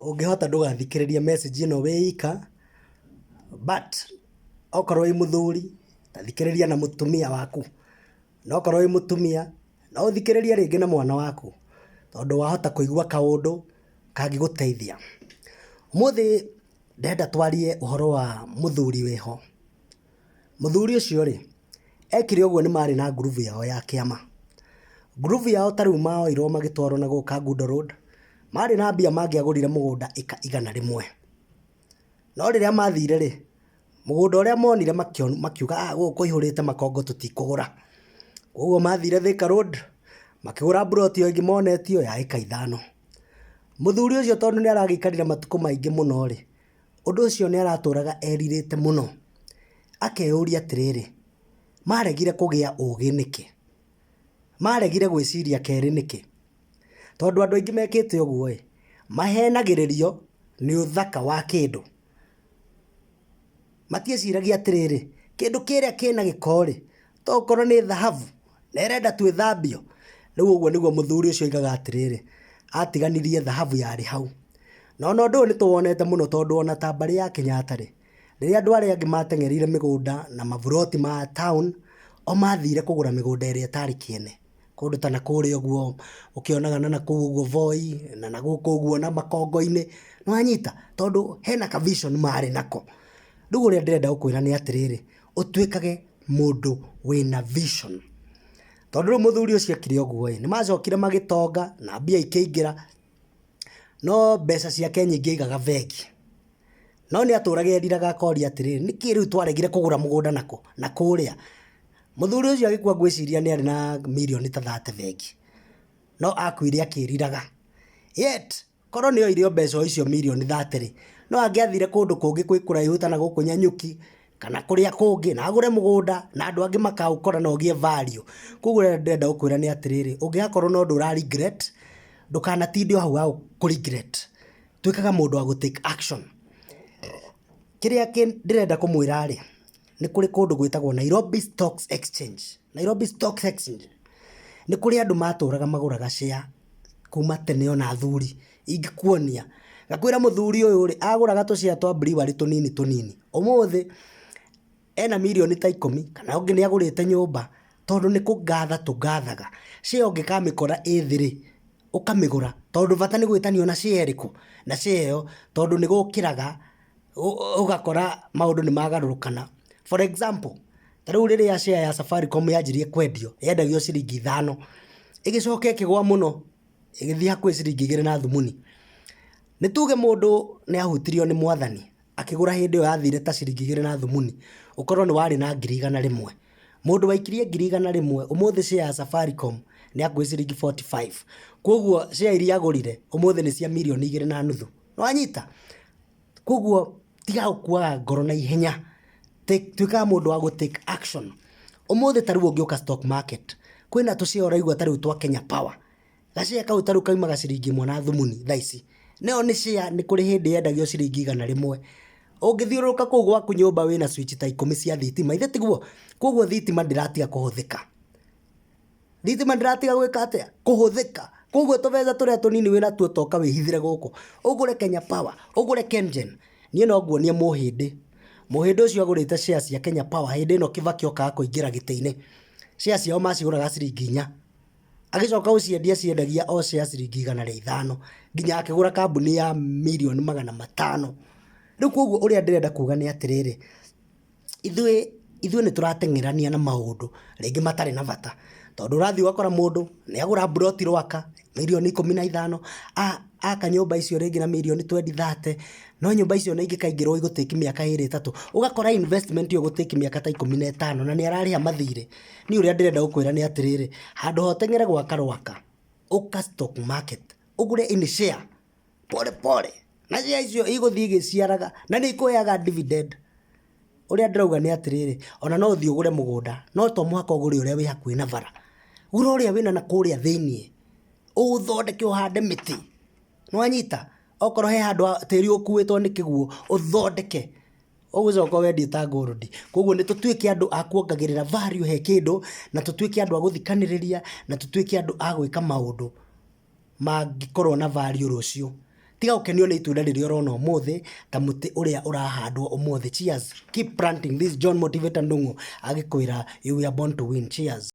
Ũngĩhota ndũgathikĩrĩrie message ĩno wĩ ika, but okorwo wĩ mũthuri, ta thikĩrĩria na mũtumia waku. Na okorwo wĩ mũtumia, no ũthikĩrĩrie rĩngĩ na mwana waku, tondũ wahota kũigua kaũndũ kangĩgũteithia. Ũmũthĩ ndĩrenda twarie ũhoro wa mũthuri wĩho. Mũthuri ũcio rĩ, ekire ũguo nĩ marĩ na ngurubu yao ya kĩama. Ngurubu yao ta rĩu moirwo magĩtwarwo na gũka Gundo Road, marĩ na mbia mangĩagũrire mũgũnda ĩka igana rĩmwe. No rĩrĩa mathire rĩ, mũgũnda ũrĩa monire makiuga aah gũkũ kũihũrĩte makongo tũtikũgũra. Koguo mathire Thĩka Road, makĩgũra mburoti o ĩngĩ monetio ya ĩka ithano. Mũthuri ũcio tondũ nĩ aragĩikarire matukũ maingĩ mũno rĩ, Ũndũ ũcio nĩ aratũũraga erirĩte mũno, akeyũria atĩrĩrĩ, 'Maaregire kũgĩa ũũgĩ nĩkĩ? Maaregire gwĩciria kerĩ nĩkĩ? Tondũ andũ aingĩ mekĩte ũguo-ĩ, mahenagĩrĩrio nĩ ũthaka wa kĩndũ. Matiĩciragia atĩrĩrĩ, 'Kĩndũ kĩrĩa kĩna gĩko-rĩ, To okorwo nĩ thahabu, na ĩrenda twĩthambio? Rĩu ũguo nĩguo mũthuri ũcio oigaga atĩrĩrĩ, atiganirie thahabu yarĩ hau. Na ona ũndũ ũyũ nĩtũwonete mũno tondũ ona ta mbarĩ ya Kenyatta rĩ, rĩrĩa andũ arĩa angĩ mateng'ereire mĩgũnda na maburoti ma town, o mathire kũgũra mĩgũnda ĩrĩa ĩtarĩ kĩene. Kũndũ ta na kũrĩa ũguo, ũkĩonaga na nakũu ũguo Voi, na nagũkũ ũguo na makongo-inĩ, nĩwanyita? Tondũ hena ka vision marĩ nako. Rĩu ũrĩa ndĩrenda gũkwĩra nĩ atĩrĩrĩ, ũtuĩkage mũndũ wĩna vision. Tondũ rĩu mũthuri ũcio ekire ũguo-ĩ, nĩmacokire magĩtonga na mbia ikĩingĩra, no mbeca ciake nyingĩ aigaga bengi. No nĩatũraga eriraga akoria atĩrĩrĩ, nĩkĩĩ rĩu twaregire kũgũra mũgũnda na kũrĩa? Mũthuri ũcio agĩkua ngwĩciria nĩarĩ na mirioni ta thate bengi, no akuire akĩriraga. Yet Korwo nĩ oire o mbeca o icio mirioni thate rĩ, no angĩathire kũndũ kũngĩ kwĩ kũraihu ta na gũkũ Nyanyuki, kana kũrĩa kũngĩ, na agũre mũgũnda, na andũ angĩ makaũkora na ũgĩe value. Kũguo ũrĩa ndĩrenda gũkwĩra nĩ atĩrĩrĩ, ũngĩgakorwo na ũndũ ũra regret, ndũkanatinde o hau ha kũ regret. Tuĩkaga mũndũ wa gũ take action. Kĩrĩa ndĩrenda kũmwĩra rĩ, nĩ kũrĩ kũndũ gwĩtagwo Nairobi Stocks Exchange. Nairobi Stocks Exchange nĩ kũrĩ andũ matũraga magũraga share kuma tene ona athuri. Ingĩkuonia, ngakwĩra mũthuri ũyũ rĩ, agũraga tũ share twa Brewery tũnini tũnini. Ũmũthĩ ena mirioni ta ikũmi, kana ũngĩ nĩ agũrĩte nyũmba, tondũ nĩ kũgatha tũgathaga. Share ũngĩkamĩkora ĩ thĩ rĩ, ũkamĩgũra, tondũ bata nĩ gwĩtania ona share ĩrĩkũ, na share ĩyo, tondũ nĩ gũkĩraga ũgakora maũndũ nĩ magarũrũkana. For example, ta rĩu rĩrĩa share ya Safaricom yanjirie kwendio, yendagio ciringi ithano, ĩgĩcoka ĩkĩgwa mũno, ĩgĩthiĩ hakuhĩ ciringi igĩrĩ na thumuni. Nĩ tuge mũndũ nĩ ahutirio nĩ mwathani, akĩgũra hĩndĩ ĩyo yathire ta ciringi igĩrĩ na thumuni, ũkorwo nĩ warĩ na ngiri igana rĩmwe. Mũndũ waikirie ngiri igana rĩmwe, ũmũthĩ share ya Safaricom nĩ hakuhĩ ciringi forty five. Kwoguo share iria agũrire, ũmũthĩ nĩ cia mirioni igĩrĩ na nuthu. nĩwanyita koguo tiga gũkuaga ngoro na ihenya Take- tuĩkaga mũndũ wa gũ take action ũmũthĩ ta rĩu ũngĩũka stock market kwĩna tũ share ũraigua ta rĩu twa kenya power ga share kau ta rĩu kaumaga ciringi ĩmwe na thumuni thaa ici nayo nĩ share nĩ kũrĩ hĩndĩ yendagio ciringi igana rĩmwe ũngĩthiũrũrũka kũu gwaku nyũmba wĩna switch ta ikũmi cia thitima ithe tiguo koguo thitima ndĩratiga kũhũthĩka Thitima ndĩratiga gwĩka atĩa? Kũhũthĩka. Koguo tũbeca tũrĩa tũnini wĩ natuo toka wĩhithĩre gũkũ. Ũgũre Kenya Power, ũgũre KenGen. Niĩ no nguonie mũhĩndĩ. Mũhĩndĩ ũcio agũrĩte share cia Kenya Power hĩndĩ ĩno Kĩbakĩ okaga kũingĩra gĩtĩ-inĩ. Share ciao macigũraga ciringi inya. Agĩcoka gũciendia aciendagia o share ciringi igana rĩa ithano. Nginya akĩgũra kambuni ya mirioni magana matano. Rĩu kwoguo ũrĩa ndĩrenda kuuga nĩ atĩrĩrĩ, Ithuĩ, ithuĩ nĩ tũrateng'erania na maũndũ rĩngĩ matarĩ na bata, tondũ ũrathiĩ ũgakora mũndũ nĩ agũra mburoti rwaka mirioni ikũmi na ithano, aka nyũmba icio rĩngĩ na mirioni twendi thate, no nyũmba icio ona ingĩkaingĩrwo igũ take mĩaka ĩrĩ ĩtatũ, ũgakora investment ĩyo ĩgũ take mĩaka ta ikũmi na ĩtano na nĩ ararĩha mathirĩ. Niĩ ũrĩa ndĩrenda gũkwĩra nĩ atĩrĩrĩ, handũ ha ũteng'ere gwaka rwaka, ũka stock market, ũgũre in share pole pole na njĩra icio igũthiĩ igĩciaraga na nĩ ikũheaga dividend. Ũrĩa ndĩrauga nĩ atĩrĩrĩ, ona no ũthiĩ ũgũre mũgũnda no to mũhaka ũgũre ũrĩa wĩ hakuhĩ na bara. Gũra ũrĩa wĩna na kũrĩa thĩiniĩ, ũũthondeke ũhande mĩtĩ. Nĩ wanyita? Okorwo he handũ tĩri ũkuĩtwo nĩ kĩguũ, ũthondeke. Ũgũcoka ũwendie ta gold. Kwoguo nĩ tũtuĩke andũ a kuongagĩrĩra value he kĩndũ, na tũtuĩke andũ a gũthikanĩrĩria, na tũtuĩke andũ a gwĩka maũndũ. mangĩkorwo na value rũciũ. Tiga gũkenio nĩ itunda rĩrĩa ũrona ũmũthĩ, ta mũtĩ ũrĩa ũrahandwo ũmũthĩ. Cheers. Keep planting. This is John Motivator Ndung'u agĩkwĩra you were born to win. Cheers.